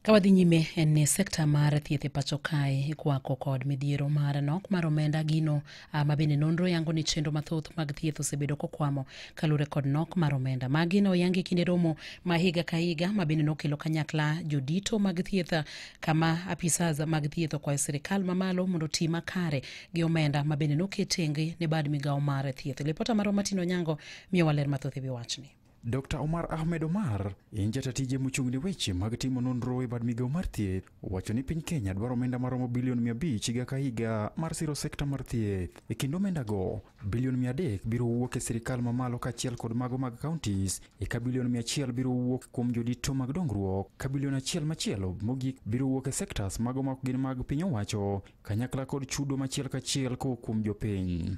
Ka wadhi nyime en ni sekta mar thieth e pacho kae ikwako kod midhiero mar nok mar omenda gino ah, ma bende nonro yango ni chenro mathoth mag thieth osebedo kokwamo kaluwore kod nok mar omenda. Magi ne oyangi kinde romo ma higa ka higa ma bende nokelo kanyakla jodito mag thieth ah, kama apisas mag thieth okwayo sirikal mamalo mondo oti makare gi omenda ma bende noket tenge ne bad migawo mar thieth. Lipota marwa Martin Onyango miyowa ler mathoth e wi wachni. Dr. Omar Ahmed Omar en jata tije mochung' ne weche mag timo nonro e bad migawo mar thieth wacho ni piny Kenya dwaro omenda maromo bilion 500 higa ka higa mar siro sekta mar thieth. E kind omendago, bilion 300 biro wuok e sirkal mamalo kaachiel kod mago mag counties, eka bilion 100 biro wuok kuom jodito mag dongruok, ka bilion achiel machielo mogik biro wuok e sectors mago ma ok gin mag piny owacho, kanyakla kod chudo machiel kachiel kowuok kuom jopiny.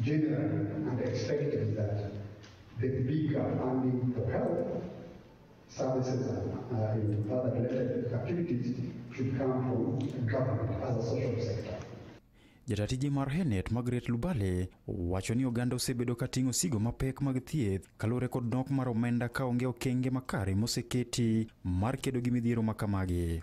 Generally, and expected that the bigger funding for health services and uh, other related activities should come from government as a social sector. Jatatiji mar Henet Margaret Lubale wacho ni oganda osebedo ka ting'o sigo mapek mag thieth kaluwore kod nok mar omenda ka onge okenge makare moseketi mar kedo gi midhiero ma kamagi.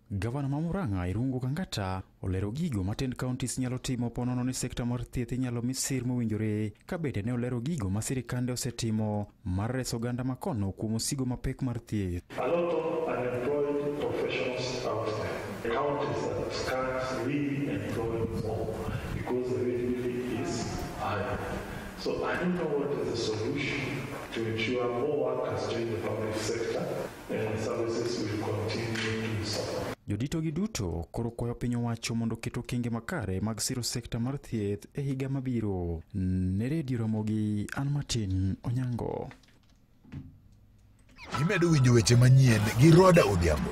Gavana ma Murang'a Irungu Kangata olero gigo ma ten counties nyalo timo ponono ni sekta mar thieth inyalo mi sir mowinjore ka bende ne olero gigo ma sirikande osetimo mar reso oganda ma kono kuom osigo mapek mar thieth. A lot of unemployed professionals out there. The counties that can't really employ more because the rate really is high. So I don't know what is the solution to ensure more workers join the public sector. Joditogi duto koro kwayo piny owacho mondo oket okenge makare mag siro sekta mar thieth e higa mabiro. Ne redio Ramogi, an Martin Onyango. Imedo winjo weche manyien gi Roda Odhiambo.